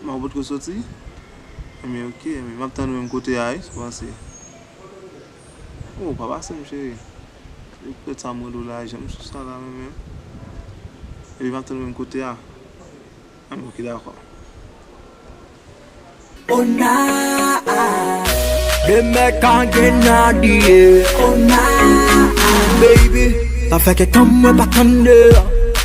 Kman ou potko soti? Enbyen ok enbyen map tann ou menm kote a wi sa w panse Oh pa pase m cheri Ou t prèt sa m rele w la jan m sou sa la mwen menm Ebyen map tann ou menm kote a Enbyen ok dakò Oh naa Demè ka gen Nadie Oh naa Baby sa fè kèk tan mwen pa tann de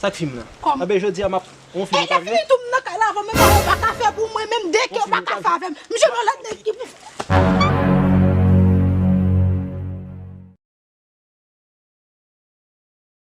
Sak film nan. Kòm. Anben jodia map on film ou pa vle. Pete pitit ou m nan kay la avan menm anyen pa ka fè pou mwen menm de kè ou pa ka fè avèm m jwenn yon lòt nèg ki pou fè.